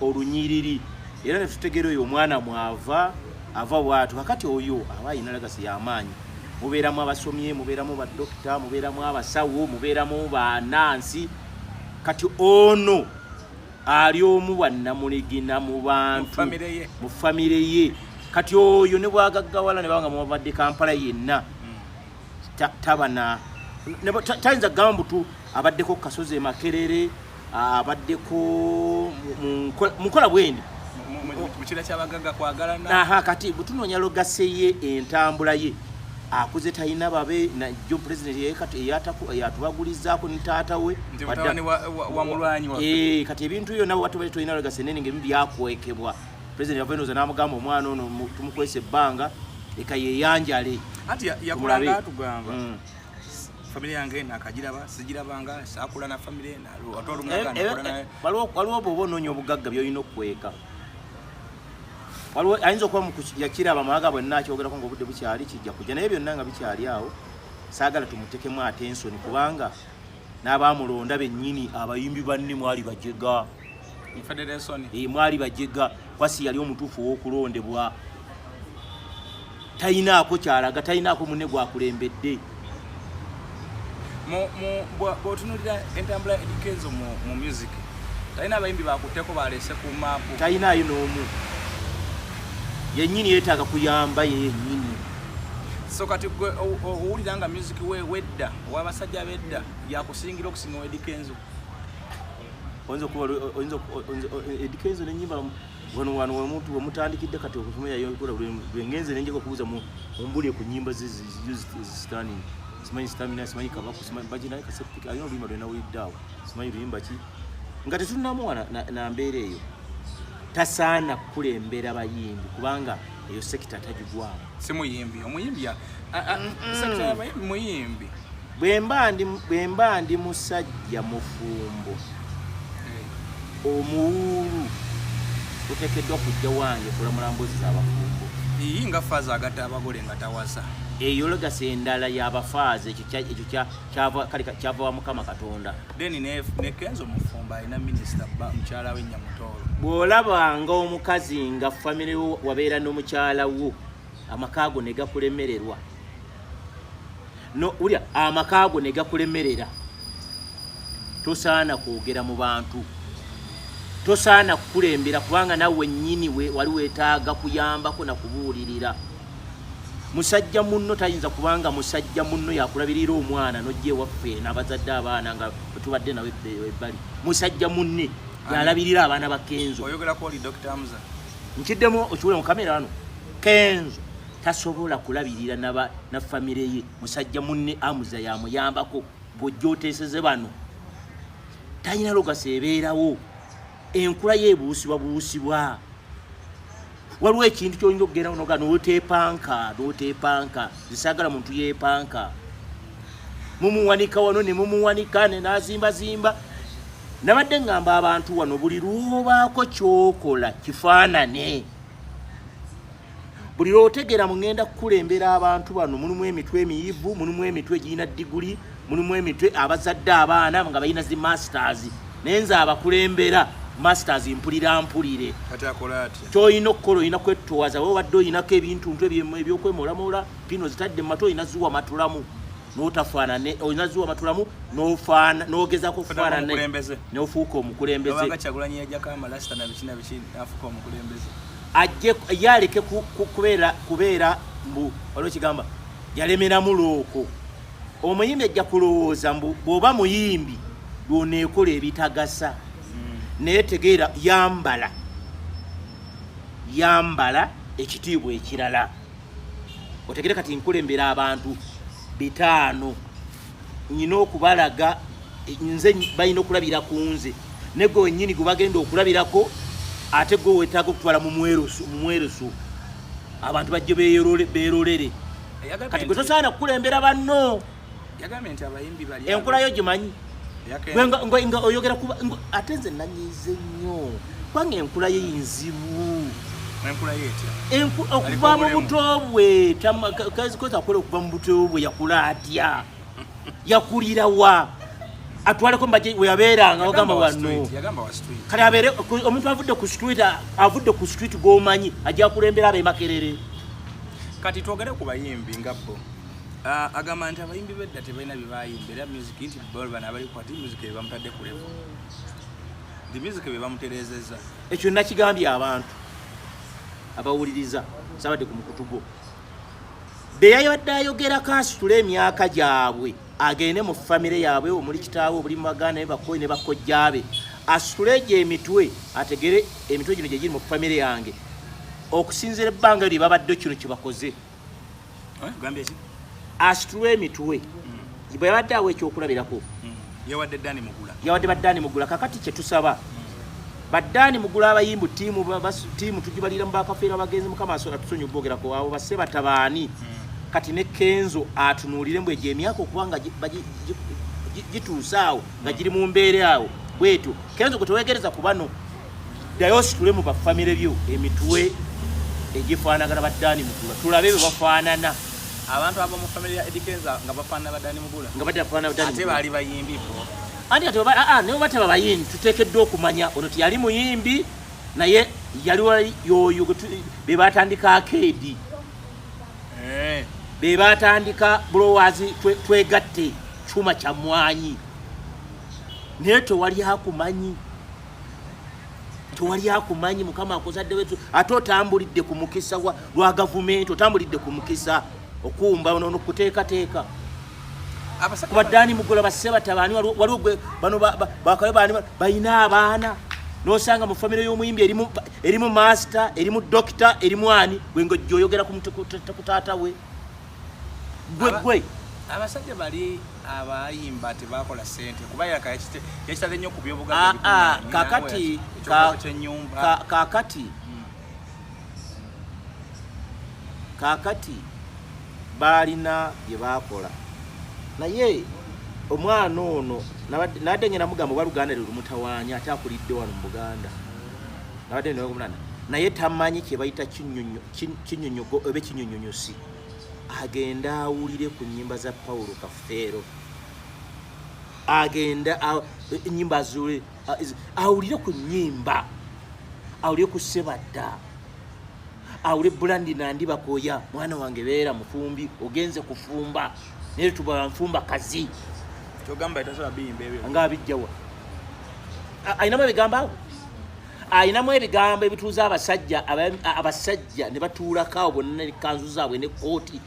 olunyiriri era ne tutegeera oyo omwana mwava ava bwatu kakati oyo aba ayina lagasi y'amaanyi mubeeramu abasomye mubeeramu badokita mubeeramu abasawo mubeeramu banaansi kati ono ali omu wannamuligina mu bantu mu famire ye kati oyo ne bwagaggawala ne banga mubadde kampala yenna hmm. tabana tayinza gamba mbutu abaddeko ku kasozi emakerere abaddeko mu nkola bwendi mukira kyabagaga kwagalana kati bwetunoonya logase ye entambula ye akuze talina babe najo pulezidenti yeyatubagulizaako ne taata we eh, kati ebintu ebyo nabo batubale tolina logase nene ngaebimu byakwekebwa pulezidenti yavaenoza n'amugamba omwana ono tumukwesa ebbanga leka yeyanjale ati yakulanga atugamba mm. famire yange nakagiraba sigirabanga sakula na famire waliwo oba oba onoonya obugagga byolina okukweka waliwo ayinza okuba yakiraba amawaga bwenna akyogerako nga obudde bukyali kijja kujja naye byonna nga bikyali awo saagala tumutekemu atensoni kubanga n'abamulonda bennyini abayimbi banne mwali bajega Eh, mwali bajega kwasi yali omutuufu ow'okulondebwa talinaako kyalaga talinaako munne gwakulembedde bwotunulira entambula edikezo mu music talina abayimbi bakutteko balese ku maapu talinaayo n'omu yenyini yetaaga kuyamba yenyini so kati gwe owulira nga music we wedda owabasajja bedda yakusingira okusinga owedikenzo oyinza okuba oyinza edika ezo nenyimba wano wano wemuntu wemutandikidde kati okusoma yayokola lwengenze nenjeka okubuuza mumbuli ku nyimba zezisitani simanyi sitamina simanyi kabaku simanyi baji naye kasepika alina oluyimba lwena wiliddaawo simanyi luyimba ki nga tetunamu wana na mbeera eyo tasaana kukulembera bayimbi kubanga eyo sekita tagigwamu simuyimbi omuyimbi muyimbi bwemba ndi musajja mufumbo omuwuulu otekeddwa kujja wange kulamula mbuzi zabafumbo iyi nga faaza agata abagole nga tawasa eyo legasi endala yabafaaza ekyo kyava wa mukama katonda then nekenzo mufumbo alina minisita mukyala we nyamutoolo bw'olabanga omukazi nga famire wabeera n'omukyala wo amakaago ne gakulemererwa no ulya amakaago ne gakulemerera tosaana kwogera mu bantu tosaana kukulembera kubanga nawe nyini we wali wetaaga kuyambako na kubuulirira musajja munno tayinza kubanga musajja munno yakulabirira omwana nojja ewaffe nabazadde abaana nga tubadde nawe ebbali musajja munne yalabirira abaana bakenzo oyogerako oli dr hamza nkiddemu okiwule mu kamera ano kenzo tasobola kulabirira naba na famire ye musajja munne amuza yamuyambako bwojja oteeseze bano talina logasa ebeerawo enkula ye ebuusibwa buusibwa waliwo ekintu kyoyinza okugenda noga notepanka notepanka zisaagala muntu yepanka mumuwanika wano ne mumuwanika ne nazimbazimba nabadde ngamba abantu wano buli lwobaako kyokola kifaanane buli lwotegera mugenda kukulembera abantu bano mulimu emitwe emiyivu mulimu emitwe egirina diguli mulimu emitwe abazadde abaana nga balina zi masters naye nze abakulembera masters mpulira mpulire kyolina okukola olina kwettowaza webadde olinako ebintuntu ebyokwemolamoola pino zitadde matu olina ziwa matulamu notafaanane olina ziwa matulamu nofaana nogezako faanane nofuuka omukulembeze ajje ye aleke kubeera kubeera mbu waliwo kigamba yalemeramu looko omuyimbi ajja kulowooza mbu bwoba muyimbi lwoneekola ebitagasa hmm. naye tegeera yambala yambala ekitiibwa ekirala otegere kati nkulembera abantu bitaano nyina okubalaga nze balina okulabira ku nze negwe wenyini gwe bagenda okulabirako ate gwe wetaaga okutwala mu mwerusu abantu bajje berolere kati gwe tosaana kukulembera banno yagambye nti abayimbi bali enkola yo gimanyi nga oyogera kuba ate nze nanyize nnyo kubanga enkula ye nzibu okuva mu buto bwe kazikoza akola okuva mu buto bwe yakula atya yakulira wa atwaleko mbaje weyabeeranga ogamba wano kale abeere omuntu avudde ku street avudde ku street gwomanyi ajja kulembera abemakerere kati twogere ku bayimbi nga bo Ah, agamba nti abayimbi bedda tebalina byebayimba era music nti bana abali kwati music bebamutadde ku levo nti music bebamuterezeza ekyo nakigambye abantu abawuliriza sabadde ku mukutu gwo beyayabadde ayogera kansitula emyaka gyabwe agende mu famire yaabwe omuli kitaawe obuli mubaganda ne bakoyi ne bakojjaabe asitule egyo emitwe ategere emitwe gino gyegiri mu famire yange okusinzira ebbanga lye babadde kino kyebakoze asitulwa emitwe mm. bwe yabadde awo ekyokulabirako mm. yawadde dani mugula yawadde badani mugula kakati kyetusaba mm. badani mugula abayimbu tiimu tiimu tugibalira mu bakafeera abagenzi mukama atusonyi okwogerako abo basse batabaani kati ne kenzo atunuulire mbu egyo emyaka okuba nga gituuse awo nga giri mu mbeera awo bwetyo kenzo gwe tewegereza ku bano ddayo ositule mu bafamire byo emitwe egifaanagana baddaani mugula tulabe bwe bafaanana abantu abo mu famire ya edikenza nga bafaanana baddaani mugula nga batafaanana baddaani ate baali bayimbi bo anti ati oba aa naye oba teba bayimbi tuteekeddwa okumanya ono tiyali muyimbi naye yaliwa yoyo be batandika akeedi eh. be batandika bulowazi twegatte kyuma kya mwanyi naye tewali akumanyi tewali akumanyi mukama akuzadde wetu ate otambulidde ku mukisa lwa gavumenti otambulidde ku mukisa okuumba nono kuteekateeka kubaddaani mugola basse batabaani waliwo gwe bano bakayo baani balina abaana nosanga mu famire y'omuyimbi erimu maasita erimu dokita erimu ani gwe nga ojja oyogera ku taata we gwe gwe abasajja bali abayimba tebakola sente kuba yakitale nnyo ku byobugakakati ah, ah, kakati hmm. kakati baalina bye baakola naye omwana ono nadde ngena mugamba oba luganda lwe lumutawaanya ate akulidde wano mu buganda abadde ndogo munana naye tamanyi kyebayita kinyonyogo oba ekinyonyonyosi agenda awulire ku nyimba za paulo kafeero agenda enyimba azule awulire ku nyimba awulire ku sebadda awule bulandi nandi bakoya mwana wange beera mufumbi ogenze kufumba naye tuba nfumba kazi kyogamba etasobola biyimba ebyo nga abijjawa ayinamu ebigambo awo ayinamu ebigambo ebituuza abasajja abasajja ne batuulako awo bonna ne kanzu zaabwe ne kooti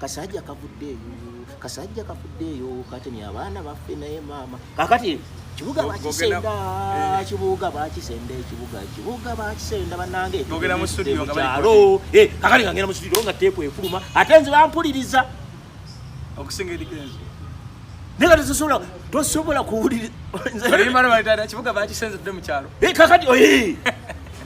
kasajja kavuddeeyo kasajja kavuddeeyo katemya abaana baffe naye maama kakati kibuga bakisenda eh. kibuga bakisenda ekibuga kibuga bakisenda banange togera mu studio nga bali alo eh kakali ngera mu studio nga tepu efuluma ate nze bampuliriza okusinga edikenzo nega tosobola tosobola kuwuliriza kibuga bakisenza tudde mu kyalo eh, kakati oyi oh, eh.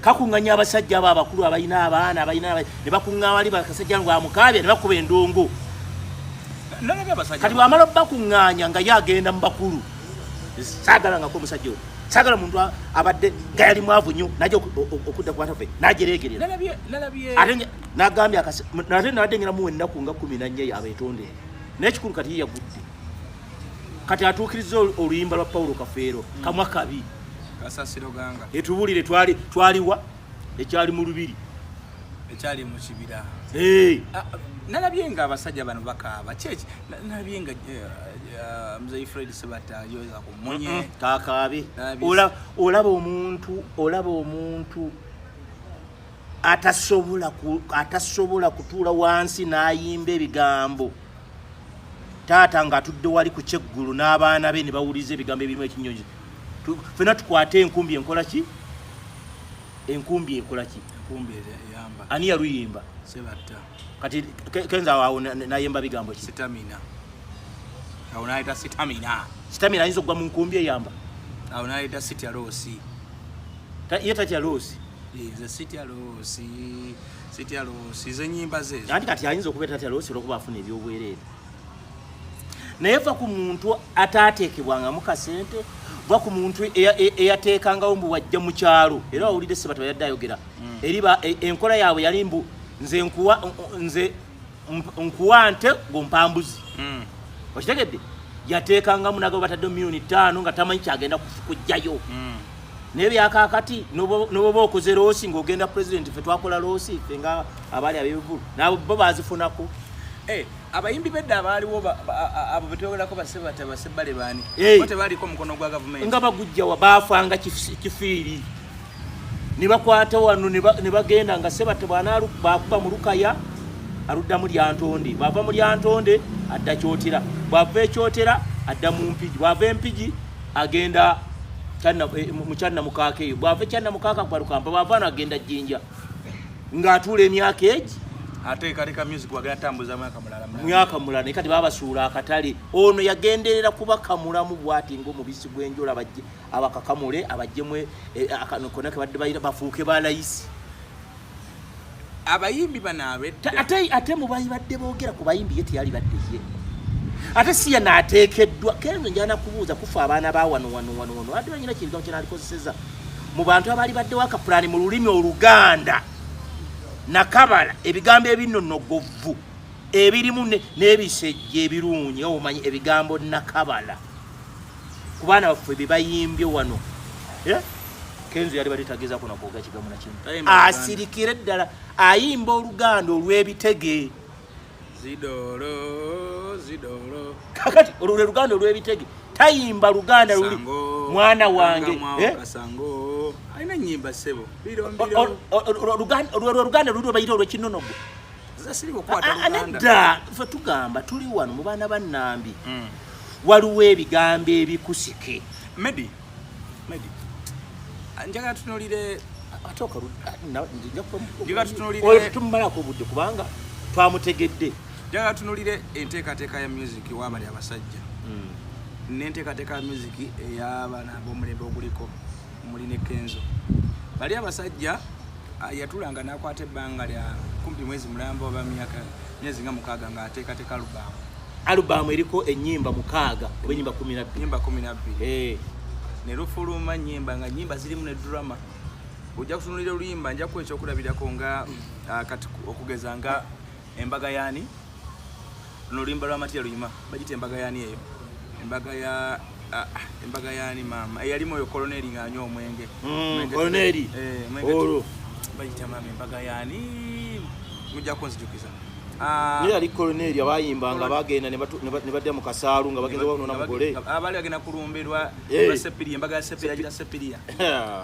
kakunganya abasajja abo abakulu abalina abaana abalina ne bakuŋŋaa wali bakasajja ngo amukaabya ne bakuba endongo kati bwamala bakuŋŋaanya nga ye agenda mu bakulu saagala ngako omusajja oyo saagala muntu abadde nga yali mwavu nnyo naja okudda kubatafe najereegerera ate nagambye ate nabadde ngiramu ennaku nga kumi nannya yabeetondere naye ekikulu kati ye yagudde kati atuukiriza oluyimba lwa paulo kafeero hmm. kamwa kabi kasasiro ganga etubulire twali twaliwa ekyali mu lubiri ekyali mu kibira hey. Ah, nalabye nga abasajja bano bakaaba kyeki nalabye nga eh, eh, mzei fred sebata yoza kumunye kakaabe olaba omuntu olaba omuntu atasobola atasobola kutuula wansi n'ayimba ebigambo taata ng'atudde wali ku kyeggulu n'abaana be ne bawuliza ebigambo ebirimu ekinyonyi fena tukwate enkumbi enkola ki enkumbi ekola ki ani yaluyimba kati kenza awo nayemba bigambo ki sitamina awo nayita sitamina sitamina ayinza okugwa mu nkumbi eyamba awo nayita sitya loosi ye tatya loosi nze sitya loosi sitya loosi zenyimba zezo anti kati ayinza okuba tatya loosi olwokuba afuna ebyobwereere naye va ku muntu ataateekebwangamu kasente va ku muntu e, e, eyateekangawo mbu wajja mu kyalo era wawulidde sebata yadde ayogera mm. eri e, enkola yaabwe yali mbu nze nkuwa nze nkuwa nte gompambuzi mm. okitegedde yateekangamu nagabo batadde milioni ttaano nga tamanyi kyagenda kujjayo mm. naye byakakati noboba okoze loosi ngaogenda pulezidenti fe twakola loosi fe nga abaali abebivulu nabo bo bazifunako eh, abayimbi bedda abaaliwo abo betwogerako basebata basebbale baani bo tebaaliko omukono gwa gavumenti nga bagujjawa baafanga kifiiri ne bakwata wano ne bagenda nga sebata bwanabakuba mu lukaya aludda mu lyantonde bwava mu lyantonde adda kyotera bwava ekyotera adda mu mpigi bwava empigi agenda eh, mukyanna mukaaka eyo bwava ekyanna mukaaka kwalukampa bwava no agenda jjinja ng'atuula emyaka egi ate kaleka music wagala tambuza mwaka mulala mwaka mulala ne kati babasuula akatale ono yagenderera kuba kamulamu bwati ngo mubisi gwenjola bajje abakakamule abajjemwe eh, akanokona kebadde bayira bafuuke balayisi abayimbi banabe ate ate mubayi badde bogera ku bayimbi yeti yali badde ye ate siya natekeddwa kenzo njana kubuuza kufa abaana ba wano wano wano wano ate banyina kintu kinaalikozeseza mu bantu abaali baddewo akapulaani mu lulimi oluganda nakabala ebigambo ebinnonogovu ebirimu n'ebisejja ebirungi omanyi ebigambo nakabala ku baana baffe bebayimbye wano eh? kenzo yali bali tageza kuna kwoga kigamu na kimu asirikire ddala ayimba oluganda olw'ebitege zidoro zidoro kakati olwo luganda olw'ebitege tayimba luganda luli mwana wange eh? alina nyimba sebo olwo luganda luli obayita olwekinonogo nedda fe tugamba tuli wano mu baana ba nambi hmm. waliwo ebigambo ebikusike medi njagala tunulire tumalako obudde kubanga twamutegedde njagala tunulire enteekateeka ya music wabali abasajja hmm. nenteekateeka ya music eyabana bomulembe oguliko muli ne kenzo bali abasajja yatulanga nakwata ebbanga lya kumpi mwezi mulamba oba myaka myezi nga mukaaga nga ateekateeka alubaamu alubaamu eriko ennyimba mukaaga oba ennyimba kumi nabbiri nyimba kumi nabbiri eh. ne lufuluma nyimba nga nyimba zirimu ne drama ojja kutunulira oluyimba nja kuwa ekyokulabirako nga ah, kati okugeza nga embaga yaani luno oluyimba lwa matiya luyima bagita embaga yaani eyo embaga ya Ah, embaga yani maama eyalimu eh, oyo koloneri ng'anywa omwenge mm, koloneri eh, olwo bayita maama embaga yani mujja kunzijukiza ah, naye yali koloneri abayimbanga bagenda ne badda mu kasaalu nga bagenda banoona mugole abaali ah, bagenda kulumbirwa eh. sepiriya embaga ya sepiriya yagira sepiriya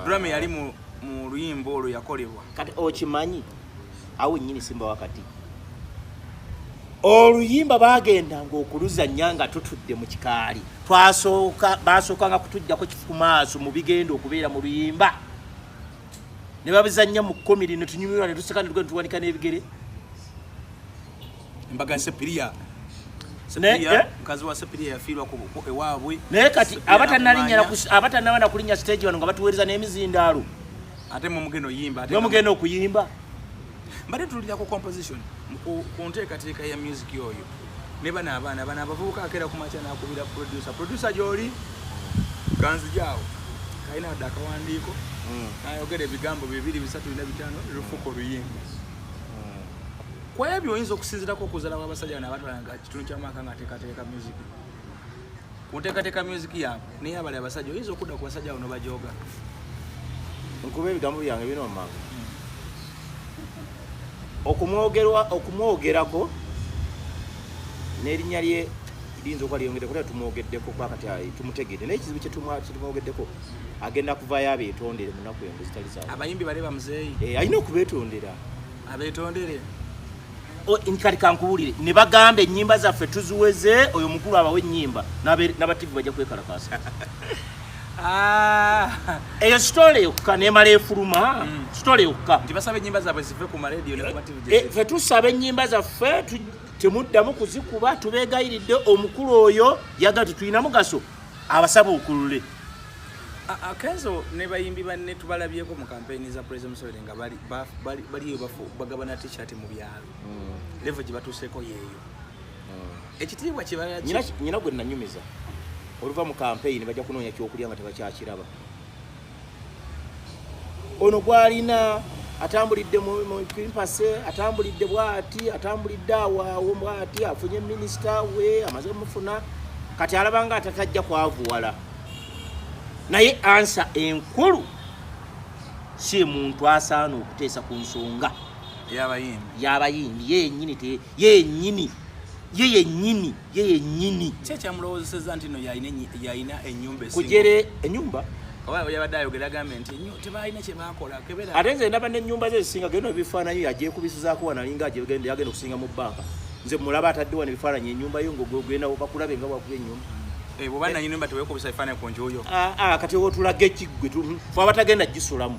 drama yali mu luyimba olwo yakolebwa kati okimanyi awo nyini simba wakati oluyimba bagendanga okuluzannya nga tutudde mu kikaali twasooka basookanga kutujjako kifu maaso mu bigenda okubeera mu luyimba ne babizannya mu kkomiri ne tunyumirwa ne tuseka ne tuwanika n'ebigere embaga sepiriya eh? mukazi wa sepiriya yafiirwa ewaabwe naye kati abatanaba na kulinnya siteegi wano nga batuweereza n'emizindaalo ate mumugenda oyimba nomugenda okuyimba mbadde tulira ku composition ku nteekateeka ya music oyo ne bano abaana bano abavubuka akeera ku makya nakubira producer producer gyoli ganzijaawo kalina adde akawandiiko hmm. nayogera ebigambo bibiri bisatu bina bitano lufuko oluyimba Kwa ebyo oyinza okusinzirako okuzala kwa basajja na batwala nga kitundu kya maka nga teka teka music. Kuteka teka music ya ne ya bale basajja oyinza okuda kwa basajja ono bajoga. Nkube ebigambo byange bino mama. Hmm. Okumwogerwa okumwogerako nerinya lye liyinza okuba lyeyongedde kuba tumwogeddeko kuba kati ah, tumutegedde naye ekizibu kyetumwogeddeko agenda kuvaayo abeetondere mu nnaku engo zitali za abayimbi bale bamuzeeyi eh, alina okubeetondera abetondere kati kankuwulire ne bagamba ennyimba zaffe tuziweze oyo mukulu abawe ennyimba n'abativu bajja kwekalakaasa ah. eyo sitole yokka nemala efuluma mm. sitole yokka eh, fe tusaba ennyimba zaffe temuddamu kuzikuba tubeegayiridde omukulu oyo yaga tetulina mugaso abasaba okulule akenzo ne bayimbi banne tubalabyeko mu kampeyini za pulezida museveni nga baliyo bafu bagabana tishati mu byalo mm. levo gye batuuseeko yeeyo mm. ekitiibwa kyebalanyina gwe nanyumiza oluva mu kampeyini bajja kunoonya kyokulya nga tebakyakiraba ono gwalina atambulidde mukimpase atambulidde bwati atambulidde awaawo bwati afunye minisita we amaze omufuna kati alabanga atatajja kwavuwala naye ansa enkulu si muntu asaana okuteesa ku nsonga yabayimbi yenyini ye yenyini ye yenyini ye yenyini kyekyamulowoozeseza nti no yalina enyumba kujere enyumba yabadde ayogera agambe nti tebalina kyebakola ate nze ndaba nenyumba ze zisinga geno ebifaananyi yagyekubisizaako wanalinga yagenda okusinga mu bbanka nze mulaba atadde wano ebifaananyi enyumba yo ngogenda bakulabe nga wakuba enyumba eh, bwoba nanyini mba tewekubisa ebifaananyi ku njuyo ah, ah, kati otulaga ekiggwe fe abatagenda gisulamu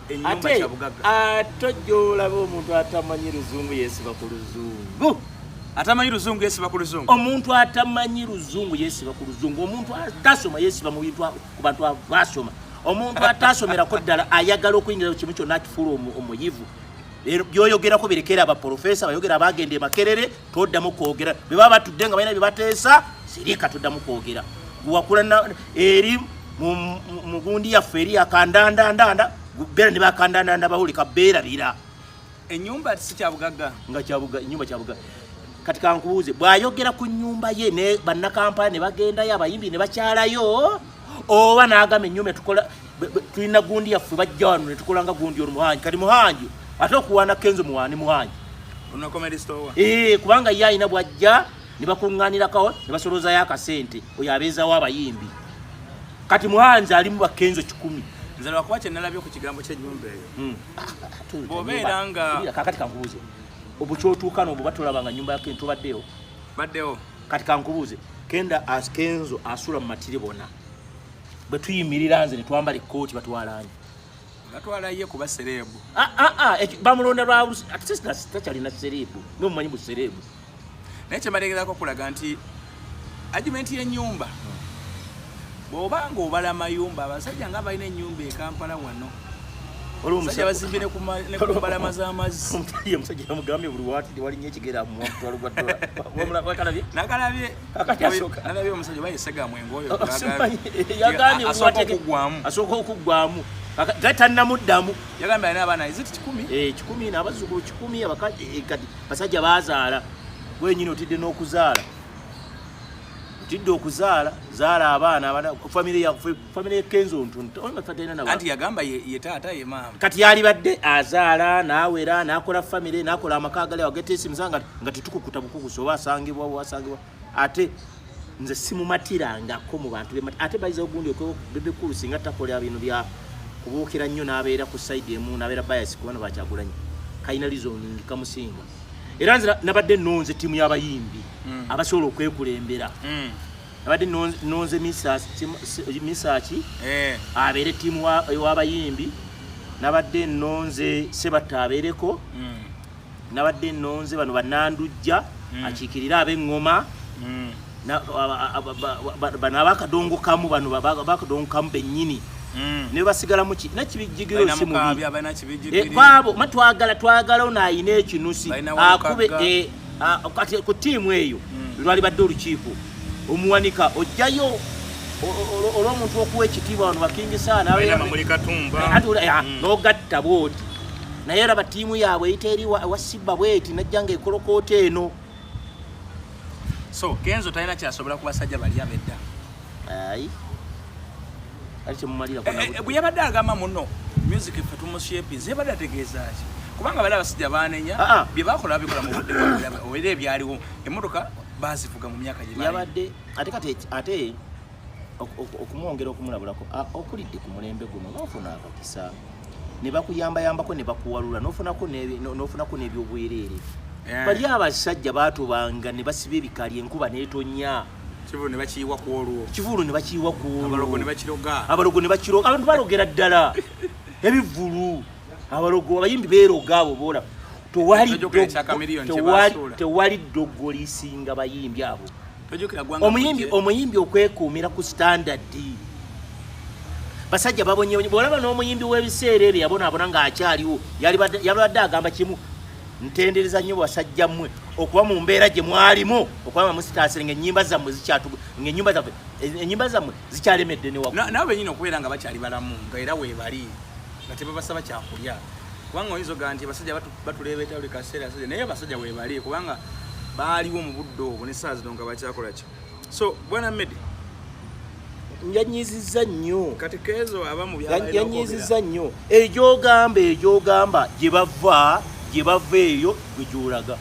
ate ate ojja olaba omuntu atamanyi luzungu yesiba ku luzungu atamanyi luzungu yesiba ku luzungu omuntu atamanyi luzungu yesiba ku luzungu omuntu atasoma yesiba mu bintu ku bantu abasoma omuntu atasomerako ddala ayagala okuyingira kimu kyonna akifuula omuyivu byoyogerako birekera abaprofesa bayogera abagenda emakerere toddamu kwogera bwe baba batudde nga balina bye bateesa sirika toddamu kwogera guwakula eri mu gundi yaffe eri yakandandandanda beera ne bakandandanda bawulika beerabira enyumba sikyabugagga nga kyabuga enyumba kyabuga kati kankubuuze bw'ayogera ku nyumba ye ne bannakampala ne bagendayo abayimbi ne bakyalayo oba n'agamba ennyumba tukola tulina gundi yaffe bajja wano ne tukola nga gundi ono muhangi kati muhangi ate okuwaana kenzo muwaani muhangi eh, kubanga ye alina bwajja ne bakuŋŋaanirakawo ne basoloozayo akasente oyo abeezawo abayimbi kati muhanzi alimu bakenzo kikumi nze lwakuba kyenalabye ku kigambo kyenyumba eyo hmm. bwobeera nga kakati kankubuuze obukyotuukana obwo batulaba nga nyumba yake ntubaddeyo baddewo kati kankubuuze kenda askenzo asula mu matiri bona bwe tuyimirira nze ne twambala ekkooti batwalaanyi batwala ye kuba sereebu ah, ah, ah, bamulonda lwa takyalina sereebu nomumanyi bu sereebu naye kyemalegerako okulaga nti argumenti y'ennyumba hmm. bwoba nga obala mayumba abasajja nga balina enyumba ekampala wano omusajja bazimbi nekumbalama zamazzi omusajja yamugambye buli wati walinyo ekigera mumutwalo gwa dolakalabye nakalabye omusajja oba yesegamu engoyo asooka okuggwamu gatanamuddamu yagambye alina abaana iziti kikumi eh, kikumi nabazukulu kikumi eh, kati basajja bazaala wenyini otidde n'okuzaala tidde okuzaala zaala abaana abana family ya family ya kenzo ntuntu oyo mafata ina nawa anti yagamba ye, ye tata ye mama kati yali badde azaala nawera nakola family nakola amakaga leo gete simu zanga ngati tuko kutabuko kusoba asangibwa wasangibwa ate nze simu matira ngako mu bantu be ate baiza ogundi okwe bebe kulu singa takole abinu bya kubukira nnyo nabeera ku side emu nabeera bias kubana bakyagulanye kaina lizo nyingi kamusinga era nze nabadde nonze tiimu y'abayimbi mm. abasobola okwekulembera mm. nabadde nonze misaki eh. abeere tiimu w'abayimbi nabadde nonze sebatta abeereko mm. nabadde nonze bano banandujja akiikirire ab'eŋŋoma bano abakadongo kamu bano bakadongo kamu bennyini mm. ne basigalamu ki nakibijjigiro si mubi eh, kwabo ma twagala twagala ono ayina ekinusi akube eh, kati ku tiimu eyo mm. lwali badde olukiiko omuwanika ojjayo olwomuntu okuwa ekitiibwa wano bakingisaa nogatta bwoti naye era batiimu yaabwe eyita eri wasibba bweti najja nga ekolokoota eno so kenzo talina kyasobola ku basajja bali abedda ayi ali temumalira eh, eh, bwe yabadde agamba muno music ffe tumushepinze yabadde ategeeza ki kubanga bali abasajja banenya ah, ah. bye bakola babikola mu budde era ebyaliwo emmotoka bazivuga mu myaka gye yabadde ate kati ate okumwongera okumulabulako okulidde ku mulembe guno nofuna akakisa ne bakuyambayambako ne bakuwalula nofunako n'ebyobwereere eh. bali abasajja batubanga ne basiba ebikali enkuba netonya kivulu ne bakiyiwa ku olwo kivulu ne bakiyiwa ku olwo abalogo ne bakiroga abalogo ne bakiroga abantu balogera ddala ebivulu abalogo abayimbi beeroga abo boola tewali ddogo lisinga bayimbi abo omuyimbi omuyimbi okwekuumira ku standard basajja babonyebonye bwolaba n'omuyimbi w'ebiseera ebyo yabonaabona ng'akyaliwo yabadde agamba kimu ntendereza nnyo basajja mmwe okuba mu mbeera gye mwalimu okuba nga musitaasire ng'ennyimba zammwe zikyatuga ng'ennyimba zaffe ennyimba zammwe zikyalemedde newakunabo bennyini okubeera nga bakyali balamu nga era weebali nga tebabasaba kyakulya kubanga oyinza ogaa nti basajja batuleebeeta buli kaseera asajja naye abasajja webali kubanga baaliwo mu budde obwo ne saa zino nga bakyakola ki so bwana medi yanyiziza nnyo yanyiziza nnyo egyogamba egyogamba gye bava gye bava eyo gwe gyolaga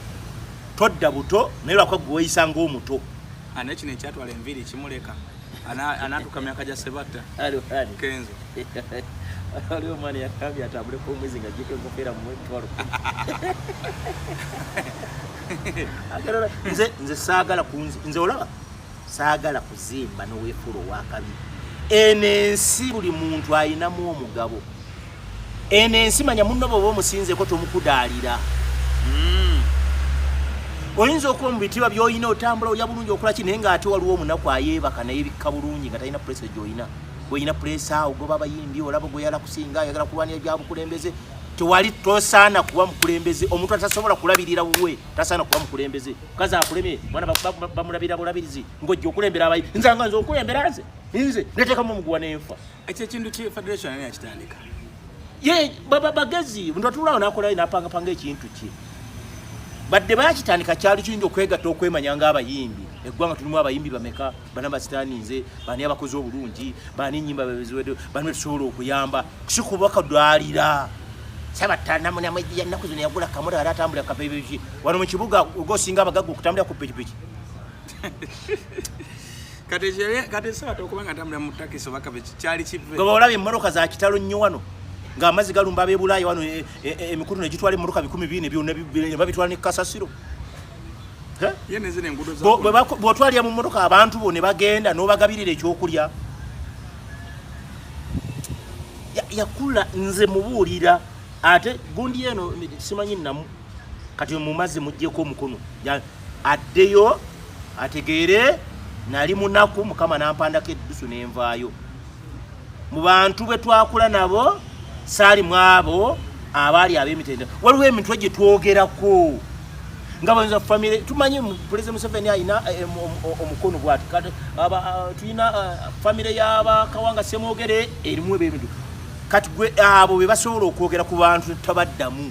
todda buto naye lwakuba gwe weyisa ngaomuto ah, nekino ekyatwala enviiri kimuleka anatuka myaka gya sebatta kenzo ali omwana yakambye atambule ku omwezi nga jiko enkofeera mumwetwalo nze nze saagala kunzi nze olaba saagala kuzimba noweefuula owakabi eno ensi buli muntu ayinamu omugabo Eno ensi manya munno bwoba omusinzeko tomukudaalira. Hmm. Oyinza okuba mu bitiibwa by'olina otambula olya bulungi okola ki naye ng'ate waliwo omunaku ayeebaka naye bikka bulungi nga talina pulesa gy'olina. Olina pulesa ogoba abayimbi olaba gweyala kusinga ayagala kulwanira bya bukulembeze tewali tosaana kuba mukulembeze omuntu atasobola kulabirira wuwe tasaana kuba mukulembeze kazi akulemye mwana bamulabira bulabirizi ngojja okulembera abayi nze nga nze okulembera nze nze netekamu omuguwa nenfa ekyo ekintu ki federation ani akitandika ye baba bagezi muntu atulawo nakolayo napangapanga ekintu kye badde bakitandika kyali kiyinza okwegatta okwemanya ng'abayimbi eggwanga tulimu abayimbi bameka bana basitaninze bani abakozi obulungi bani enyimba bebeziwedde bani betusobola okuyamba sikubakadwalira sabatanamunamwejiyannaku zino yagula kamura ara atambulira kapebiki wano mu kibuga ogosinga abagagga okutambulira ku pikipiki olaba emmotoka za kitalo nnyo wano ng'amazzi galumba abebulaaya wano e, e, e, emikutu negitwala emmotoka bikumi bibiri nebyonababitwala ne kasasiro bwotwalira mu mmotoka abantu bo ne bagenda n'obagabirira ekyokulya yakula nze mubuulira ate gundi eno simanyi namu kati mumaze mujjeko omukono addeyo ategeere nali munaku mukama nampandako eddusu nenvaayo mu bantu bwe twakula nabo saali mu abo abaali ab'emitendera waliwo emintu egye twogerako nga bayinza famire tumanyi pulezida museveni alina eh, omukono bwati ah, tulina ah, famire y'abakawanga semwogere erimu eb'emintu kati gwe abo be basobola okwogera ku bantu tabaddamu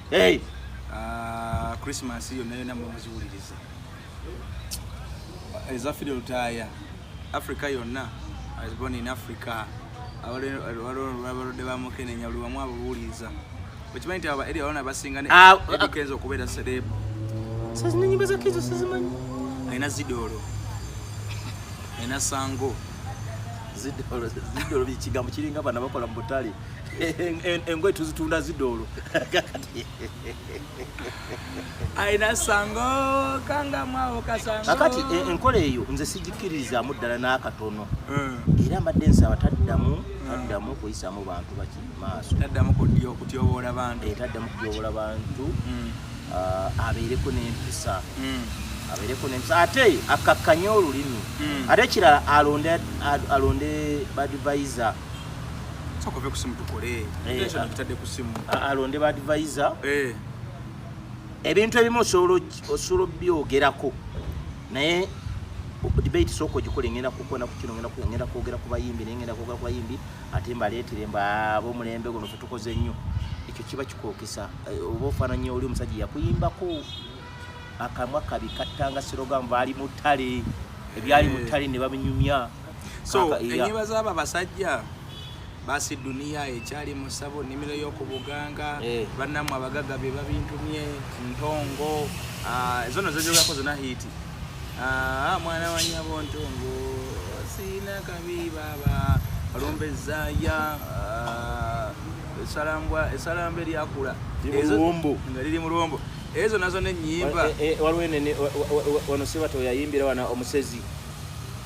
Hey. Uh, Christmas yonna yonna mumuziwuliriza eza Fidel Lutaaya Africa yonna I was born in Africa abalwadde ba mukenenya buli wamu ababuwuliriza okimanyi nti aba eri abaana basinga ah, ah. nebikenza okubeera serebu sazina nyimba za kenzo sizimanyi alina zidoolo alina sango zidoolo zidoolo kigambo kiringa bana bakola mu butale engoye tuzitunda zidoolo alina sango kangamwawo kasango kakati e, enkola eyo nze sigikkiririzaamu ddala n'akatono hmm. era mbadde nsaba taddamu hmm. taddamu kuyisaamu bantu baki maaso taddamu kutyoboola bantu eh, taddamu kutyoboola bantu hmm. ah, abeereko n'empisa abeereko n'empisa ate akkakkanye olulimi ate ekirala alonde alonde badvisa Soko vye kusimu tukole. Eh, Tension ah. kitade kusimu. Alonde ba advisor. Eh. Ebintu ebimu osolo osolo byogerako. Naye debate soko gikole ngenda kukona ku kino ngenda ku ngenda kwogera ku bayimbi naye ngenda kwogera ku bayimbi ate mbaleetere mba abo mulembe guno fe tukoze nnyo ekyo kiba kikookesa eh, oba ofaananya oli omusajja yakuyimbako akamwa kabi kattanga sirogamu baali mutale ebyali mutale ne babinyumya so enyiba zaba basajja basi dunia ekyali musabo nimiro yokubuganga eh. banamu abagaga bye babintumye ntongo ah, ezono zezogako zona hiti ah, ah, mwana wanyabo ntongo sina kabi baba alombezaya esalambwa esalamba eryakula nga liri mulwombo ezo nazo nenyimba eh, eh, waliwo wano siba toyayimbira wana omusezi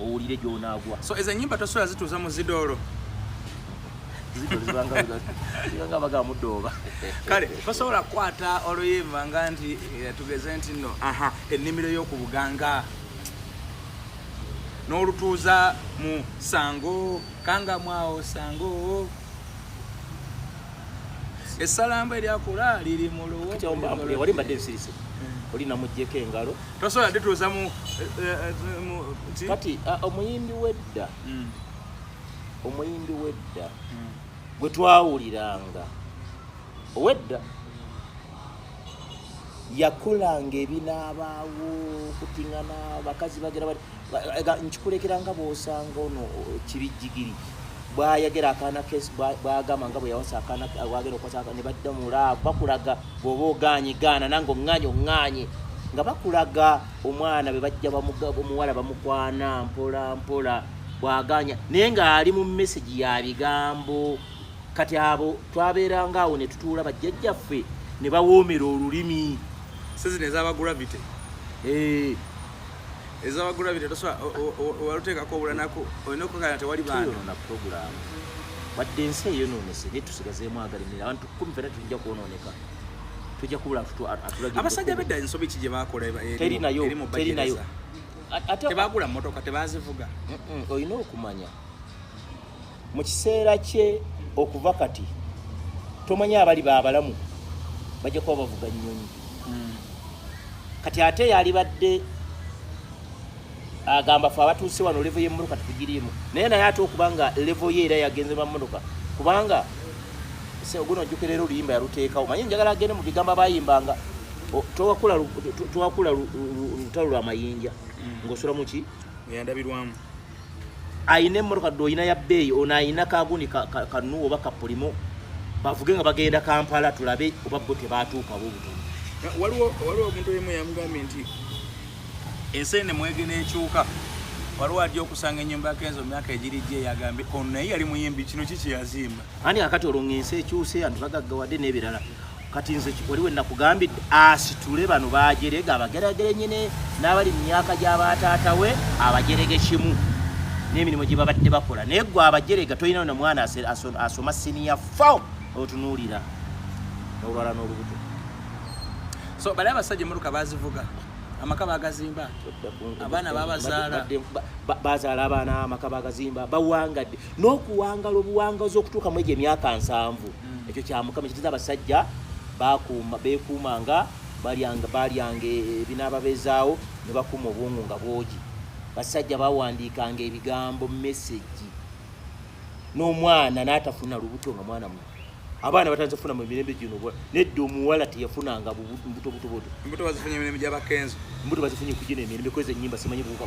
owulire gyonaagwa so ezo enyimba tosobola zituuza mu zidoolo kale tosobola kukwata oluyimba nga nti eh, tugeze nti no aha ennimiro y'oku buganga n'olutuuza mu sango kangamwawo sango esalamba eryakula liri mu luwo wali mbadde nsirise eh. oli namujjeko engalo tosobola dituuza mu eh, eh, kati ah, omuyimbi wedda hmm. omuyimbi wedda hmm. gwe twawuliranga owedda yakolanga ebinaabaawo kutingana bakazi bagera bati nkikulekera nga bwosanga ono kibi jigiri bwayagera akaana kesi bwagamba nga bweyawasa akaana bwagera okwasa ne badda mulaavu bakulaga bwoba ogaanye gaana nange oŋŋaanye oŋŋaanye nga bakulaga omwana bwe bajja omuwala bamukwana mpola mpola bwaganya naye ng'ali mu mesegi ya bigambo kati abo twabeeranga awo ne tutuula bajjajjaffe ne bawoomera olulimi sizina ezaba gravity eh. ezawagula bino tosobola waluteekako obulanaku olina okukakana tewali baana puroguramu wadde ensi eyonoonese naye tusigazeemu agalimira abantu kumi fena tujja kwonooneka tujja kubula atulabasajja bedda ensobi ki gye bakola eri mu bajereza tebagula motoka tebazivuga olina okumanya mu kiseera kye okuva kati tomanya abali babalamu bajja kuba bavuga nnyonyi hmm. kati ate yalibadde agamba fe abatuuse wano levo yemotoka tetugiriimu naye naye ate okuba nga levo ye era yagenze mamotoka kubanga guno ojjukira era oluyimba yaluteekawo manye njagala agende mu bigambo abayimbanga twakula lutalo lwa mayinja hmm. ng'osula muki eyandabirwamu ayina emmotoka dde oyina ya bbeeyi ono ayina kagundi kanuwa oba kapulimu bavuge nga bagenda kampala tulabe oba bo tebaatuukawo obutono waliwo omuntu oyimu yamugambye nti ensi ene mwege n'ekyuka waliwo ajja okusanga enyumba yake enzo myaka egiri gye yagambye ono naye yali muyimbi kino ki kyeyazimba ani akati olwo nga ensi ekyuse anti bagaggawadde n'ebirala kati nze wali we nakugambidde asitule bano bajerega abageragere nyine n'abali mu myaka gy'abataata we abajerege kimu n'emirimu gye babadde bakola naye gwe abajerega tolina na mwana asoma siniya fo otunuulira n'olwala n'olubuto so bali abasajja emmotoka bazivuga amaka bagazimba abaana babazaala bazaala abaana amaka bagazimba bawangadde n'okuwangala obuwangazi okutuuka mu egyo emyaka nsanvu mm. ekyo kya mukama kitiza abasajja bakuuma bekuumanga balyanga balyanga ebinaababezaawo ne bakuuma obwongo nga bwogi basajja bawandiikanga ebigambo mesegi n'omwana n'atafuna lubuto nga mwana mu abaana batanze kufuna mu mirembe gino nedda omuwala teyafunanga bubutobutobuto mbuto bazifunye emirembe gyabakenzo mbuto bazifunye kugina emirembe kweza enyimba simanyi buuka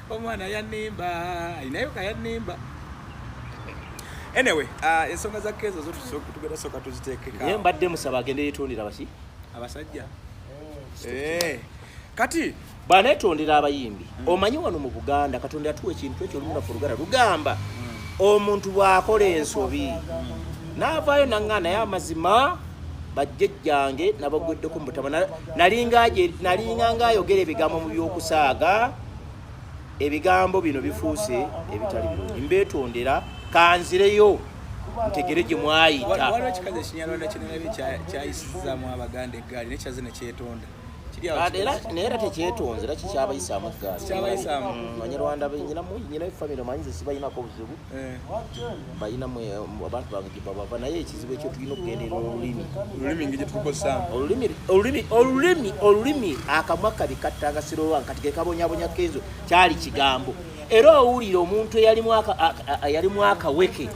omwana yanimba alinayo kayanimba anyway uh, ensonga za kezo zotugenda soka tuzitekeka naye mbadde musaba agende yetondera baki abasajja eh, kati bwanetondera abayimbi mm. omanyi wano mu buganda katonda yatuwa ekintu ekyo olumulafu oluganda lugamba mm. omuntu bwakola ensobi mm. naavaayo naŋŋa naye amazima bajjejjange nabagweddeko mubutama nalinga ngaayogera ebigambo mu by'okusaaga ebigambo bino bifuuse ebitali bulungi mbeetondera kanzireyo ntegere gye mwayita waliwo kikazi ekinyarwanda kinalabe kyayisizaamu abaganda eggaali nekyaze nekyetonda naye era tekyetonze era kikyabayisaamu eggaali abanyarwanda nyina famire manyize sibayinako buzibu Eh. balina abantu bange gyebabava naye ekizibu ekyo tulina okugendera olulimi olulimi olulimi akamwa kabi kattanga sirowa kati kekabonyabonya kenzo kyali kigambo era owulira omuntu eyalimu akaweke eh.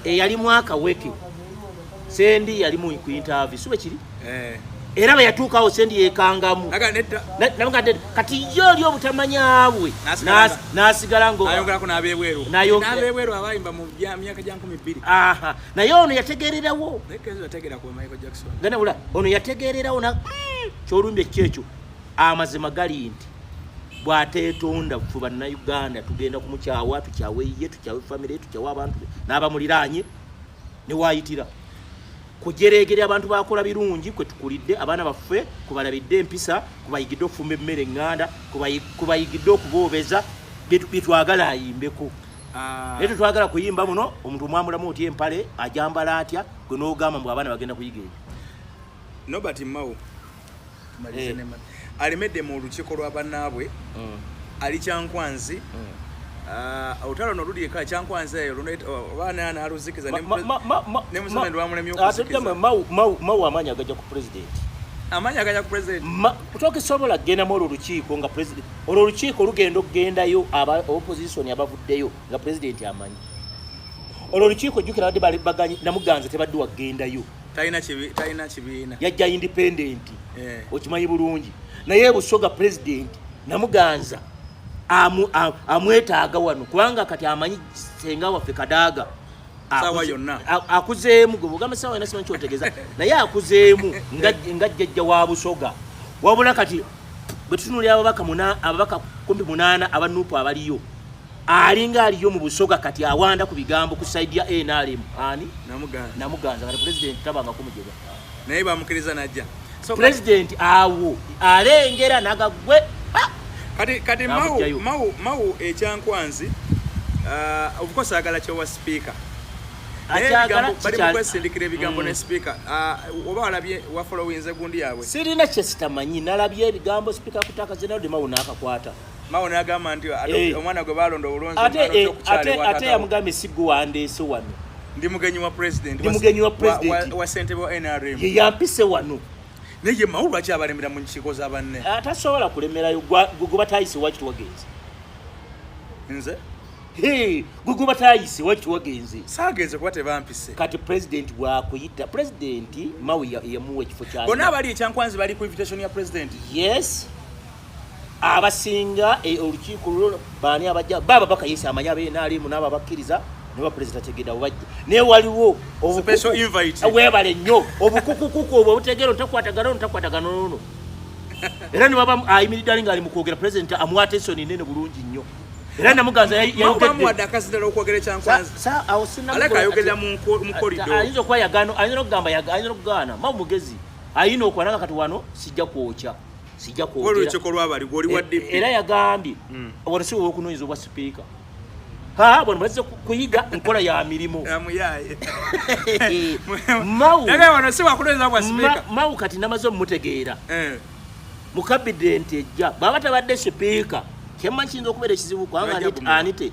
eyalimu akaweke Sendi yali mu ku interview siwe kiri eh. era bwe yatuukawo sendi yekangamu kati ye oli obutamanya bwe n'asigala naye ono yategererawo ganabula ono yategererawo hmm, kyolumbye kyekyo amazima gali nti bwatetonda fe bannayuganda tugenda kumukyawa tukyawe ye tukyawe famire tukyawe abantu n'abamuliraanye newayitira kujereegere abantu bakola birungi kwe tukulidde abaana baffe kubalabidde empisa kubayigidde okufumba emmere eŋŋanda kubayigidde okuboobeza byetwagala ayimbeko ah. naye tetwagala kuyimba muno omuntu omwamulamu otya empale ajambala atya gwe n'ogamba mbu abaana bagenda kuyiga ebyo nobert mao alemedde mu olukiiko lwa bannaabwe mm. ali kyankwanzi mm. ah, olutalo luno luli eka kyankwanzi eyo obaana naaluzikiza nemusana lwamulemymawu amaanyi agaja ku pulezidenti amaanyi agaja ku pulezidenti kutoka esobola kugendamu olwo olukiiko nga pulezidenti olwo olukiiko olugenda okugendayo aba opozisoni abavuddeyo nga pulezidenti amanyi olwo olukiiko jjukira badde baganyi namuganza tebadde wagendayo talina kibi talina kibiina yajja independent eh. okimanyi bulungi naye busoga president namuganza amu amwetaaga wano kubanga kati amanyi senga waffe kadaaga sawa yonna akuzeemu gwe bugamba sawa yonna simanyi kyotegeza naye akuzeemu nga jjajja wa busoga wabula kati bwe tutunulira ababaka ababaka kumpi munaana abanuupu abaliyo alinga aliyo mu busoga kati awanda ku bigambo ku side ya NRM ani namuganza namuganza kati president tabanga kumujega naye bamukiriza najja so president awo alengera nagagwe kati kati mau mau mau ekyankwanzi uh, of course agala kyo wa speaker balimukwesindikira ebigambo ne mm. speaker uh, oba walabye wa followinze gundi yabwe sirina kyesitamanyi nalabye ebigambo speaker kutaka zenalde mau nakakwata Mao n'agamba nti eh. omwana gwe baalonda obulungi ate eh, ate yamugambye si gwe wandeese wano ndi mugenyi wa president ndi mugenyi wa president wa ssentebe wa nrm ye yampise wano naye Mao lwaki abalemera mu nkiiko za banne eh, tasobola kulemerayo gwe batayise waki tuwagenze nze gwe gwe batayise waki tuwagenze saagenze kuba tebampise kati president bwakuyita president Mao yamuwa ekifo kya bona abali ekyankwanzi bali ku invitation ya president yes abasinga e, olukiiko lulo baani abajja baba bakayisa amanya benaalimu naabo abakkiriza neba pulezida tegeda bubajja naye waliwo webale nnyo obukukukuku obwo obutegeera ontakwatagana ontakwatagana nono era ne baba ayimiridde ali ng'ali mu kwogera pulezidenti amuwa atensoni nene bulungi nnyo era namuganza yayogeddayinza okuba yagano ayinza nokugambaayinza nokugaana ma mugezi ayina okwananga kati wano sijja kwokya sijja kwogeraera e, yagambye hmm. wano si wowokunoonyeza obwa sipiika ha bano bazze kuyiga nkola ya mirimu mawu kati namaze omutegeera eh. mukabidenti ejja bwaba tabadde sipiika kyemma kiyinza okubeera ekizibu kubanga anite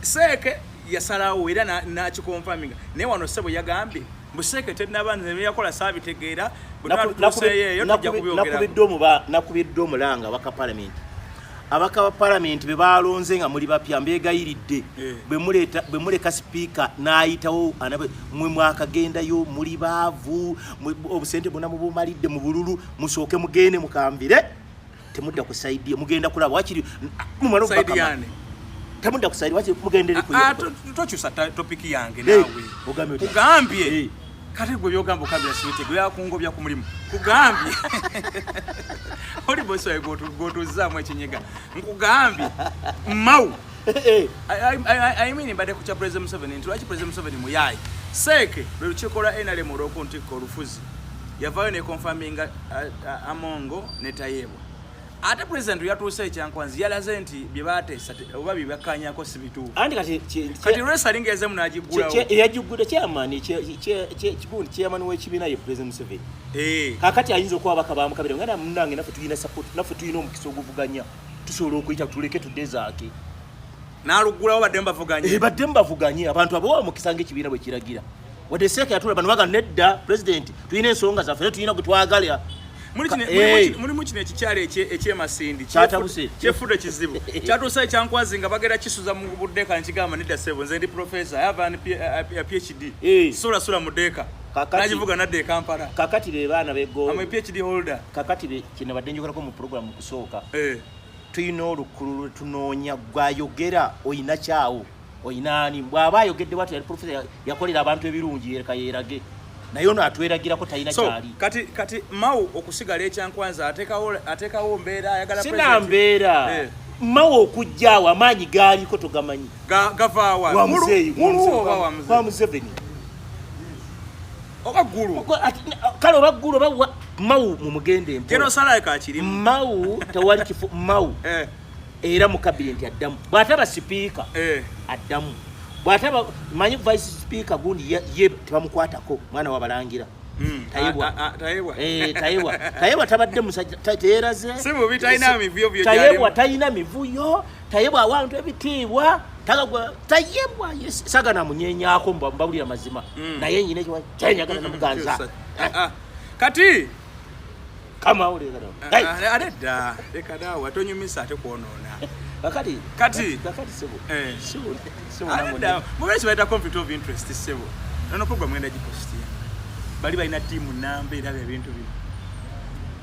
Seeke yasalawo era n'akikonfaminga naye wano ssebo yagambye mbu seeke tennaba nze byeyakola saabitegeera bwetuseeyeeyo tujja kubyogerako nakubiddwa omulanga abaka palamenti abaka ba palamenti be baalonze nga muli bapya mbeegayiridde eh. bwe muleka sipiika n'ayitawo mwe mwakagendayo muli baavu obusente bwona mubumalidde mu bululu musooke mugende mukamvire temudda ku side ye mugenda kulaba wakiri mumalo side yani temudda ku side wakiri mugenda ku ah, ah, to chusa topic yange nawe ugambye ugambye hey. kale gwe byogamba okabira sibite gwe yakungobya ku mulimu kugambye oli bosi wawe gwotuzaamu ekinyega nkugambye mau eh, eh. i mean mbadde ku kya president museveni nti lwaki president museveni muyayi seeke lwe lukiiko lwa nrm olwokuntikka olufuzi yavayo ne confirming uh, uh, amongo ne tayebwa ate president yatuuse ekyankwanzi yalaze nti bye bateesa oba bye bakkanyako si bituufu anti kati kati resa alinga ezemu n'agiggulawo yagiggudde kyamaani kigundi kyamaani w'ekibiina ye president museveni eh. kakati ayinza okuba abaka bamukabira nga namunange naffe tulina support naffe tulina omukisa oguvuganya tusobola okuyita tuleke tudezaake n'aluggulawo baddemu bavuganye eh, baddemu bavuganye abantu abawa mukisa ng'ekibiina bwe kiragira wadde seeka yatula bano baga nedda pulezidenti tulina ensonga zaffe tulina gwe twagala mulimu kino ekikyalo ekyemasindi kyefudde kizibu kyatuusa ekyankwazi nga bagera kisuza mu budeeka nekigamba nedda sebo nze ndi profesa yavan phd sulasula mu deeka nagivuga nadda ekampala kakati be baana begoam phd holder kakati be kyenabadde njogerako mu programu okusooka eh. tulina olukulu lwetunoonya gwayogera oyina kyawo oyinaani bw'aba ayogedde bwati yali profesa yakolera abantu ebirungi yereka yeerage naye ono atweragirako talina kyali kati kati mau okusigala ekyankwanza atekawo mbeera ayagala sina mbeera eh. mau okujjaawo amaanyi gaaliko togamanyi gavaawa museveni oba ggulu kale oba ggulu oba mau mumugende mpo mau tewali kifo mau eh. era mu kabineti addamu bw'ataba sipiika eh. addamu bw'ataba manyi vice sipiika gundi ye tebamukwatako mwana wabalangira hmm. tayebwa eh, tayebwa tabadde musajja teyeraze tayebwa talina mivuyo tayebwa awantu ebitiibwa tagagwa tayebwa sagana munyenyako mbabulira mazima hmm. naye nyina ekyo kyenjagala namuganza ah, ah. kati kama ule kada ah, ah, ale ale da le kada wato nyumi sa te kuono na bakati kati bakati sebo eh sebo sebo na mo da mo bese baita conflict of interest sebo na no problem enda jiposti bali baina timu namba ira bya bintu bi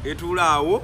etula awo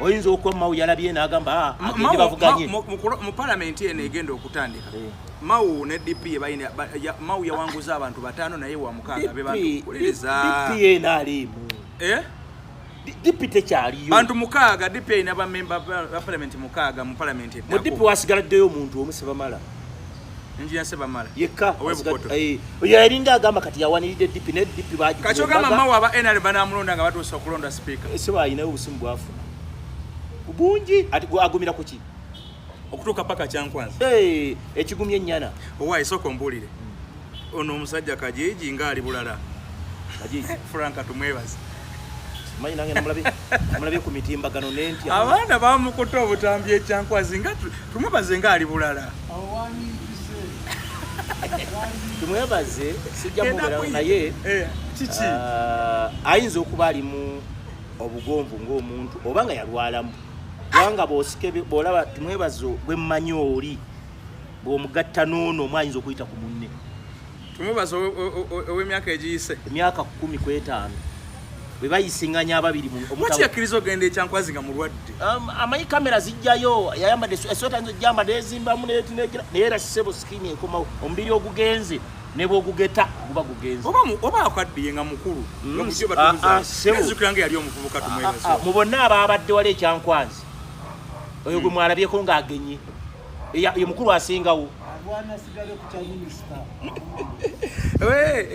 oyinza okuba mawu yalabye n'agamba ah, agende bavuganye mu palamenti eno egenda okutandika eh. mawu ne dp balina mawu yawanguza abantu bataano naye wa mukaaga be bantukulirizapp eno aliimu eh? dp tekyaliyo bantu mukaaga dp erina bamemba ba palamenti mukaaga mu palamenti eddamu mu dp wasigala ddeyo omuntu omu sebamala Engineer Sebamala. Yekka. Owe Bukoto. Eh, oyo yalinga agamba kati yawaniride DP ne DP baji. Kacho kama mawa ba NRA bana mulonda nga batu sokulonda speaker. Eh, Seba ina ubusimu bwafu. Kubunji ati agumira kuki? Okutuka paka kya kwanza. Eh, hey, ekigumye nyana. Owa isoko mbulire. Hmm. Ono musajja kajiji ngali bulala. Kajiji. Franka tumwebaza. manyi nange namulabye ku mitimbagano nentya abaana bamukuta obutambi ekyankwazi nga tumwebaze nga ali bulala tumwebaze sijja mubulala naye eh, kiki ah, ayinza okuba alimu obugonvu ng'omuntu oba nga yalwalamu kubanga bosikebe bolaba tumwebazo bwemmanyi oli bwomugatta n'ono omwayinza okuyita ku munne Tumubaza ow'emyaka egiyise emyaka kumi ku etaano bwe bayisinganya ababiri muti yakkiriza ogenda ekyankwazi nga mulwadde um, amanyi kamera zijjayo yayambadde esweta nzo gyambadde ezimbamu netinekira naye era sebo sikini ekomawo omubiri ogugenze nebwogugeta guba gugenze oba akaddiye nga mukulu mm, ah, ah, zukira nga yali omuvubuka tumwebeza ah, mu bonna abaabadde wali ekyankwazi oyo gwe mm. mwalabyeko ng'agenye ye mukulu asingawo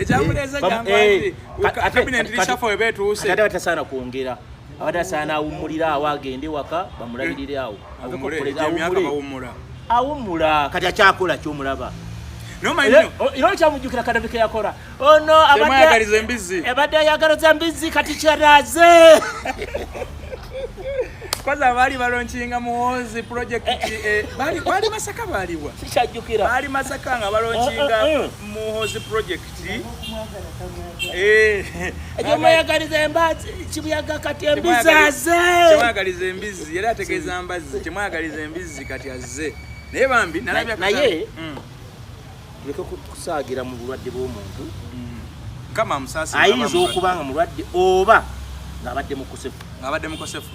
ekyamuleezaaatasaana kwongera abadde asaana awummulire awo agende waka bamulabirire awo awummula kati akyakola kyomulaba era okyamujjukira kadabike yakora Ono abadde embizzi. Ebadde ayagaliza embizzi kati kyeraze. Kwanza bali balonkinga muwonzi project eh, eh. eh, bali bali masaka baliwa. Sikyajjukira. Bali masaka nga balonkinga eh, eh, muwonzi project. Eh. Ejo mwayagaliza embazi kibuyaga kati embizzi aze. Kyamwagaliza embizzi era ategeeza mbazzi. Kyamwagaliza embizzi kati aze. Naye bambi nalabya naye. Mm. tuleke kusaagira mu bulwadde bw'omuntu mm. ayinza okuba nga mulwadde oba ng'abadde mukosefu ng'abadde mukosefu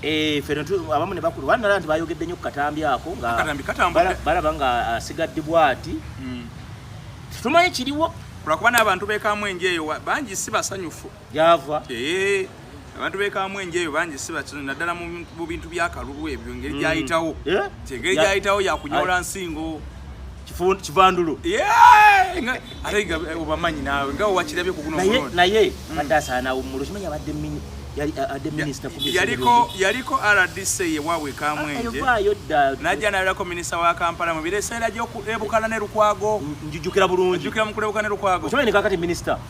eh, ffe abamu ne bakulu banala nti bayogedde nnyo ku katambi ako ngabalaba nga asigadde bwati mm. tumanyi kiriwo lwakuba n'abantu bekamwenjeeyo bangi si basanyufu gyava eh, abantu bekamu enjeyo bangi si bakino naddala mu bintu byakalubu ebyo ngeri mm. gyayitawo eh? kyengeri gyayitawo yakunyola nsingo kivandulu ate nga obamanyi naawe nga wakirabye kugunaye mm. adde asaana wummulo kimanya abadde yaliko rdc yewabwe kamwenje najja nayolako minisita wa kampala mu bireseera gyebukala ne lukwago njijukira bulungi njijukira mukulebukala ne lukwago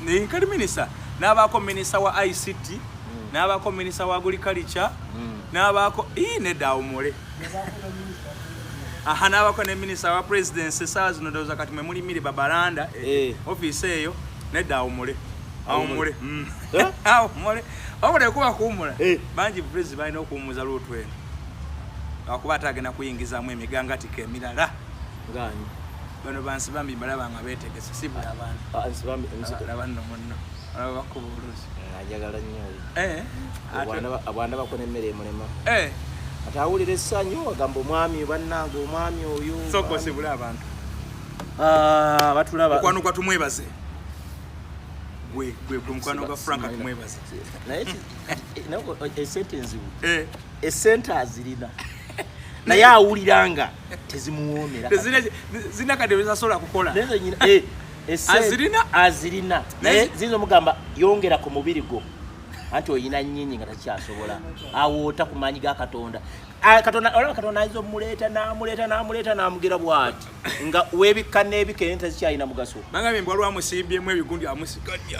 nkali minisita n'abaako minisita wa ict hmm. n'abaako minisita wa agriculture hmm. n'abaako ii nedda awumule aha n'abaako ne minisita wa presidency esaawa zino ndowooza kati mwe muli miri babalanda eh, eh. ofiisi eyo nedda awumule awumule hmm. eh? awumule awumule kuba kuwumula bangi bupulezi balina okuwumuza luutu eno lwakuba ate agenda kuyingizamu emigangatiko emirala bano bansi bambi mbalaba nga betegese si buli abantuaba nno munno olaba bakuba oluusi eh, ajagala nnyo eh, abwana bakona emmere emulema eh. ati awulira essanyu agamba omwami bannange omwami oyo sokosibula abantu ah, batulabakwano gwa tumwebaze gwe gwe gwe mukwano gwa frank tumwebaze naye esente nzibu esente azirina naye awuliranga tezimuwoomera zirina kade bezasobola kukola eh, azirina azirina naye ziyinza omugamba yongera ku mubiri gwo anti oyina nyinyi nga takyasobola awoota ku maanyi ga katonda ah, katonda olaba katonda ayinza omuleeta namuleeta namuleeta namugira bwati nga webikka n'ebika ente zikyalina mugaso bagambye mbwalwamusimbyemu ebigundi amusigalya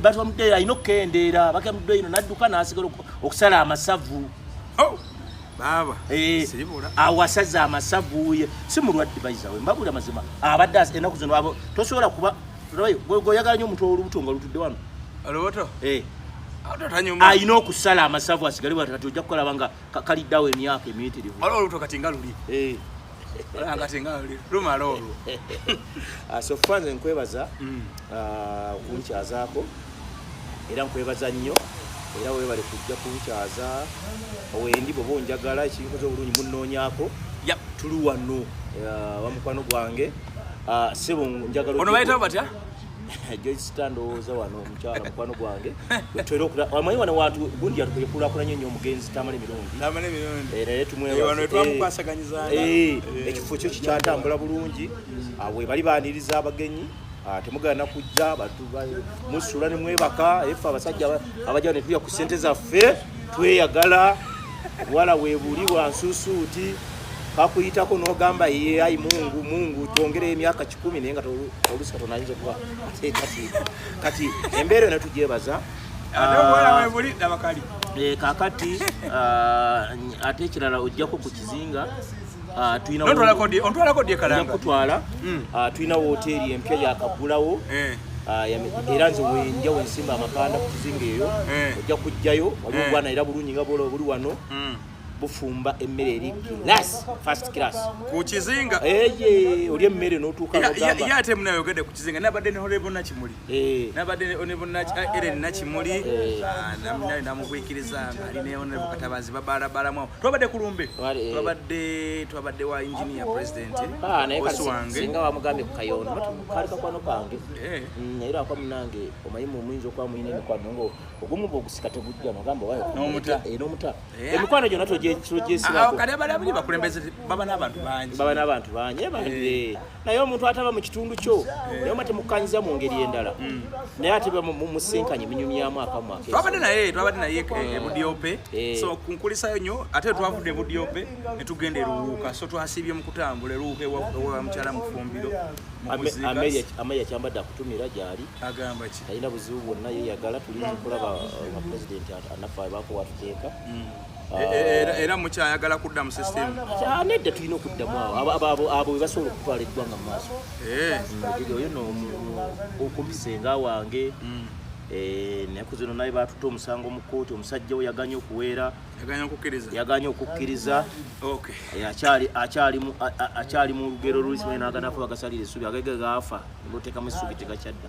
batwamudeyo alina okukendeera bakemuddeyo ino nadduka nasigala okusala amasavu oh, eh, awasaza amasavu si mulwadde baizawe mbabula mazima abadde enaku zino abo tosobola kuba goyagala nyo omuntu olubuto nga lutudde wano olubuto eh. alina okusala amasavu asigale bwati kati ojja kukolaba nga kaliddawo emyaka emiyitirivu eh. ah, sofa nze nkwebaza mm. ah, okunkyazaako era nkwebaza nnyo era webale kujja kunkyaza wendi bwoba onjagala ekinkoze obulungi munoonyako tuli wano ah, wamukwano gwange sebo njagala joysta ndowooza wano omukyala mukwano gwange wetwera okula amanyi wano wantu gundi yakulakulanye nyo omugenzi tamale mirundi naye tumwebaekifo eh, eh, eh, kyo kikyatambula bulungi ah, webali baniriza abagenyi ah, temugana kujja musula nemwebaka efe abasajja abaja netuya ku sente zaffe tweyagala wala webuli wansusuuti kakuyitako nogamba ye ayi mungu mungu twongere emyaka kumi naye nga olusi katonda ayinza okuba ate kati kati embeera eno tugyebaza kakati ate ekirala ojjako ku kizinga Ah, kutwala hmm. ah, tulina woteeri empya yakagulawo eh. ah, era nze wenja wensimba amakanda ku kizinga eyo eh. ojja kujjayo waliwo eh. gwana era bulungi nga bwola obuli wano hmm. bufumba emmere eri class first class ku kizinga eye oli emmere n'otuuka n'ogamba ya ate munayogedde ku kizinga nabadde ne honorable nakimuli eh. nabadde ne honorable eh, eren nakimuli eh. ah, naminali namugwikiriza nga ali ne honorable katabazi babalabalamu twabadde ku lumbe twabadde twabadde wa engineer president ah, bosi wange singa wamugambye ku kayondo bati kali kakwano kange mm, naye lwakwa munange omanyi mumuyinza okuba mulina emikwano nga ogumu bwogusika tegujja nogamba wayo n'omuta Eh? emikwano gyona togyesibako ah, baba n'abantu bangi baba n'abantu bangi eh, eh. naye omuntu ataba mu kitundu kyo naye oba temukanyiza mu ngeri endala hmm. naye ate musinkanye minyumyamu akamwatwabadde naye twabadde naye ebudiope so kunkulisayo nyo ate twavudde ebudiope netugenda eruwuuka so twasiibye mu kutambula eruwuuka ewa mukyala mufumbiro ameya kyambadde akutumira gyali agamba ki talina buzibu bwonna yeyagala tulinza okulaba uh, pulezidenti naffe abaako watuteeka mm. e, e, e, era mukyayagala kudda mu system ah, nedda tulina okuddamu awo abo webasobola okutwala eggwanga mu maaso eh. mm, oyo no okumpisenga wange mm. eh, naku zino naye batutte omusango mu kkooti omusajja we yaganye okuweera yaganye okukkiriza eh, akyali mu lugero lulisimanyinaganafa bagasalira essubi agege gaafa ngoteekamu essubi tegakyadda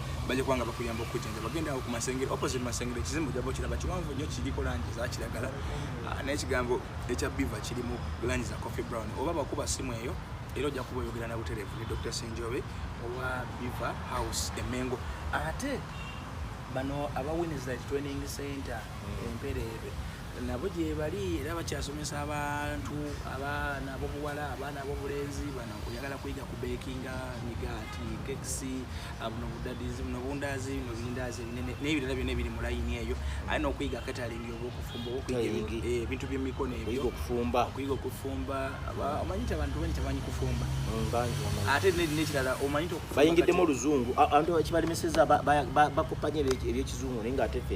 bajja kubanga bakuyamba okujjanjaba genda awo ku masengere opposite masengere ekizimbe ojja bokiraba kiwanvu nnyo kiriko langi eza kiragala ah, naye ekigambo ekya biva kirimu langi za coffee brown oba bakuba simu eyo era ojja kuba oyogera na butereevu ne dr senjobe owa biva house emengo ate bano aba winners training center hmm. empereebe mm. nabo gyebali era bakyasomesa abantu abaana abobuwala abaana abobulenzi bana oyagala kuyiga ku bakinga migaati kekisi buno budadizi buno bundazi buno bindazi ebinene n'ebirala byona ebiri mu layini eyo aye n'okuyiga katalingi oba okufumba ebintu byemikono ebyo okuyiga okufumba omanyi nti abantu bangi tebamanyi kufumba mm, ate nekirala omanyi nti okubayingiddemu oluzungu abantu kibalemeseza bakopanya ebyekizungu naye nga atefe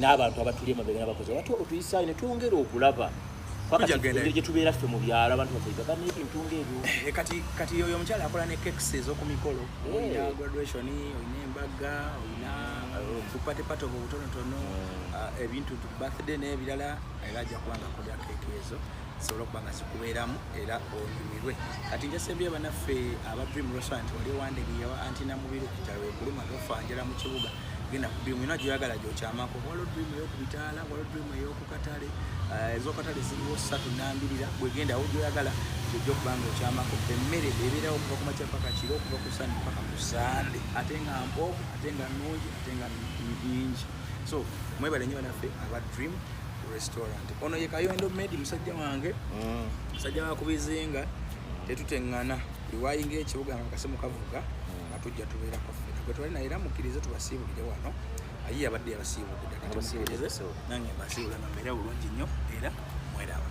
n'abantu abatuli emabega nabakozi abati otuyisaayo ne twongera okulaba pakati gye tubeera ffe mu byalo abantu bafegaga n'ebintu ngaebyo eh, kati kati oyo omukyala akola ne kekisi ez'oku mikolo eh. olina graduation olina embaga olina tupatepate obwo obutonotono hmm. ah, ebintu birthday n'ebirala era ajja kuba nga akolera keeki ezo zisobola okuba nga zikubeeramu era onyumirwe kati njasembye banaffe aba dream restaurant wali wandege yawa anti namubiru kujala wekuluma tofanjala mu kibuga genda ku dream yona gyoyagala gyokyamako waliwo dream eyokubitaala waliwo dream eyokukatale eh, ezokatale ziriwo satu nambirira bwegendawo gyoyagala gyojja okuba nga okyamako emmere ebeerawo okuva ku makya paka kiro okuva ku sande paka ku sande ate nga mpovu ate nga nungi ate nga nyingi so mwebale nyo banaffe aba dream restaurant ono ye kayondo medi musajja wange mm. musajja wakubizinga tetutengana iwayinga ekibuga nga kasimu kavuga nga tujja tubeerako ffena gwe twali naye era mukkirize tubasiibulire wano ayi abadde yabasiibulidde kati mukkirize nange mbasiibula nga mbeera bulungi nnyo era mweraba